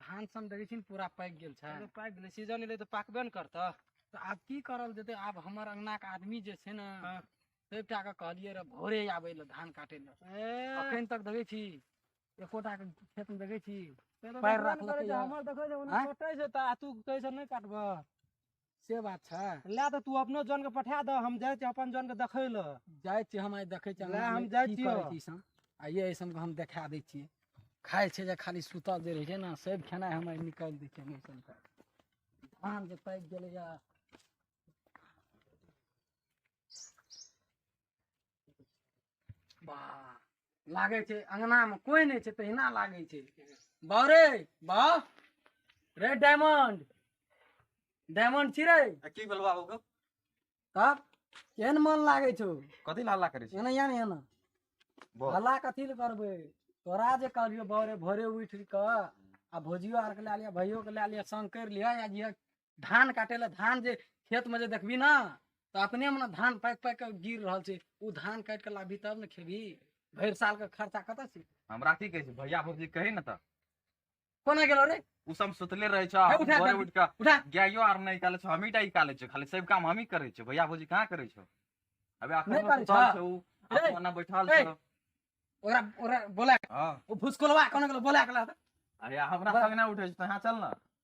धान सन देखै छी ने पूरा पाकि गेल छै अरे पाकि गेलै सीजन एलै तऽ पाकबे ने करतऽ तऽ आब की करल जेतै आब हमर अंगनाके आदमी जे छै ने हँ। सभटा के कहलियै रहे भोरे आबै लए धान काटै लए ए अखन तक देखै छी एकोटा के खेतमे देखै छी तै तऽ पैर देखबे ने राखलकै करै छै, यऽ। हमर देखै छै ओने आँय? कटै छै तऽ आ तू कहै छै नहि काटबऽ से बात छै लए तऽ तू अपनो जन के पठा दह हम जाइ छी अपन जन के देखै लए जाइ छी हम आइ देखै छी लए, हम जाइ छियौ। छियै आइए ऐसन हम देखा दै छियै खाइ छै जे खाली सुतल जे रहै छै ने सब खेनाइ हम आइ निकालि दै छियै ऐसन तऽ धान जे पाकि गेलैए वाह लागै छै अङ्गनामे कोइ नहि छै तहिना लागै छै बाउ रे बाउ रे डायमंड डायमंड छी रे आ की भेल बाबू के तब केहन मन लागै छौ कथी ला हल्ला करै छी एना या ने एना बोल हल्ला कथी लए करबै तोरा जे कहलियौ भोरे भोरे उठि कऽ आ भौजियो आरके लए लिअ भैयोके लए लिअ संग करि लिअ या जे धान काटे ला धान जे खेत में जे देखबी ना तो अपने में ना धान पाकि पाकि के गिर रहल छै उ धान काट के लाबी तब ने खेबी भरि साल के खर्चा कतऽ छै हमरा की कहै छै भैया भौजी कही ने तऽ कोना गेलो रे उ सब सुतले रहे छ हे, उठा भोरे दे। उठ के उठा गायो आर नहि काले छो हमही टा ही काले छो खाली सब काम हमही करे छो भैया भौजी कहाँ करे छो अबे अखन नहि करे सुतल छो। छो उ ए, अपन ना बैठल ए। छो ओकरा ओकरा बोला के- हँ ओ भुसकोलवा कोना गेलो बोला के ला दे। अरे हमरा बा- संग ना उठे छो तहाँ चल ना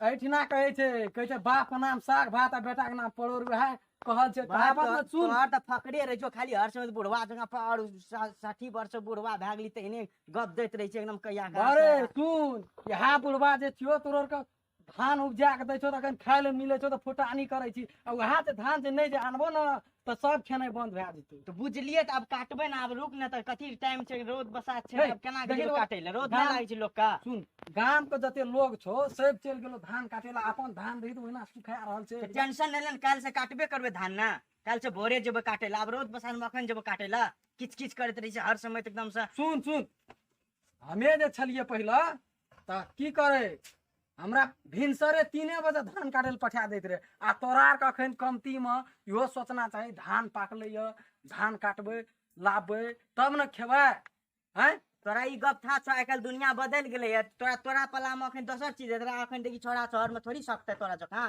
एहिठिना कहै छै कहै छै बाप के नाम साग भात आ बेटा के नाम परोर वएह कहल छै बात कहावत मे सुन तोहर तऽ फकरे रहै छौ खाली हर समय बुढ़वा जगह पर और सा- साठी वर्ष बुढ़वा भए गेली तहिने गप दैत रहै छै एकदम कहिया कहाँ अरे से। सुन इएह बुढ़वा जे छियो तोर के धान उपजा के दै छौ तऽ अखन खाय ले मिलै छौ तऽ फुटानी करै छी आ उएह जे धान जे नहि जे आनबो ने तऽ सब खेनाइ बंद भए जेतै तऽ बुझलियै तऽ आब काटबै ने आब रुक ने तऽ कथी टाइम छै रोद बसात छै आब केना गेलो काटै लए रोद नहि लागै छै लोक का सुन गाम के जते लोग छौ सब चलि गेलो धान काटे ला अपन धान रही ओहिना सुखा रहल छै टेंशन नहि लेन काल्हि से काटबे करबै धान ने काल्हि से भोरे जेबै काटै लए आब रोद बसात मे अखन जेबै काटै लए किच किच करैत रहै छै हर समय एकदम से सुन सुन हमे जे छलियै पहिले तऽ की करे हमरा भिनसरे तीने बजे धान काटे लए पठा दैत रहे आ तोरा आरके अखन कमतीमे इहो सोचना चाही धान पाकलै यऽ धान काटबै लाबबै तब ने खेबै हैं तोरा ई गप था छौ आइ काल्हि दुनिया बदलि गेलै है तोरा तोरा पलामे अखन दोसर चीज हेतै अखन देखी छोड़ा शहरमे थोड़ी सकतै तोरा जकाँ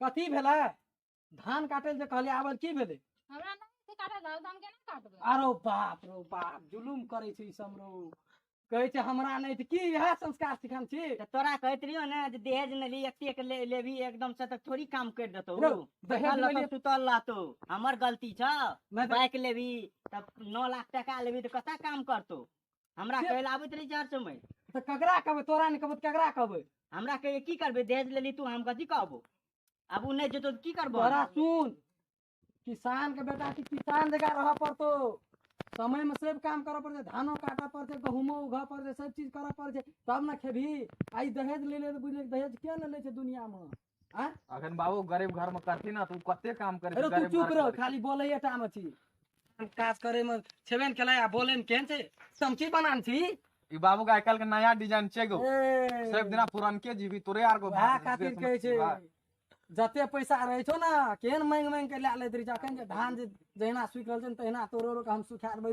कथी भेलै धान काटै जे कहलियै आबल की भेलै हमरा नहि से काटल रहल तऽ हम केना काटबै आरो बाप रो बाप जुलुम करै छै ई सब लोग कहै छै हमरा नहि तऽ की इएह संस्कार सिखन छी तऽ तोरा कहैत रहियो ने जे दहेज नहि ली एतेक ले लेबी एकदम से तऽ थोड़ी काम कर देतौ रौ, दहेज बैठल नहि रहतौ, ले- सुतल रहतौ हमर गलती छौ नहि तऽ- बाइक लेबी तब नौ लाख टका लेबी तऽ कतऽ काम करतौ हमरा से- कहै लए आबैत रही चार समय तऽ ककरा कहबै तोरा नहि कहबै तऽ ककरा कहबै हमरा कहै की करबै दहेज लेली तू हम कथी कहबो आब ओ नहि जेतो तऽ की करबो तोरा सुन किसान के बेटा छी किसान जगह रह पड़तो समय में सब काम करऽ पड़तै धानो काटऽ पड़तै गहूमो उघऽ पड़तै सब चीज करऽ पड़तै तब ने खेबही आई दहेज ले ले तऽ बुझले दहेज किया ने ले छै दुनिया में आ अखन बाबू गरीब घर में करती ना तू कते काम करे अरे तू चुप रह खाली बोलैया टा में छी हम काज करे में छेबे ने केला आ बोले में केहन छै समची बनान छी ई बाबू का आजकल के नया डिजाइन छै गो ए, सब दिना पुरनके जीवी तोरे आर को वएह खातिर कहै छै जते पैसा रहै छौ ने केहन मांगि मांगि के लए लैत रहै छै अखन जे धान जे जहिना सुखि रहल छै ने तहिना तोरो के हम सुखा देबै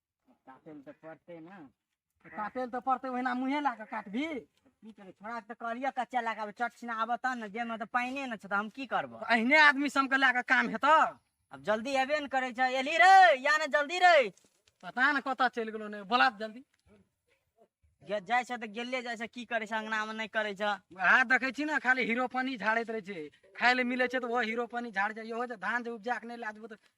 काटै लए तऽ पड़तै ने काटै लए तऽ पड़तै ओहिना मुँहे लए कऽ काटबी की करबै छोड़ा तऽ कहलियै कच्चा लए कऽ आबै चट छिना आबऽ तब ने जेमे तऽ पानिए ने छै तऽ हम की करबो अहिने आदमी सबके लए कऽ काम हेतौ अब जल्दी एबे ने करै छै एली रे या ने जल्दी रे पता ने कतऽ चलि गेलो ने बोला जल्दी गे जाइ छै तऽ गेले जाइ छै की करै छै अंगनामे नहि करै छै वएह देखै छी ने खाली हीरो पानी झाड़ैत रहै छै खाय लए मिलै छै तऽ ओहो हीरो पानी झाड़ जाइ ओहो जे धान जे उपजा के नहि लए देबो तऽ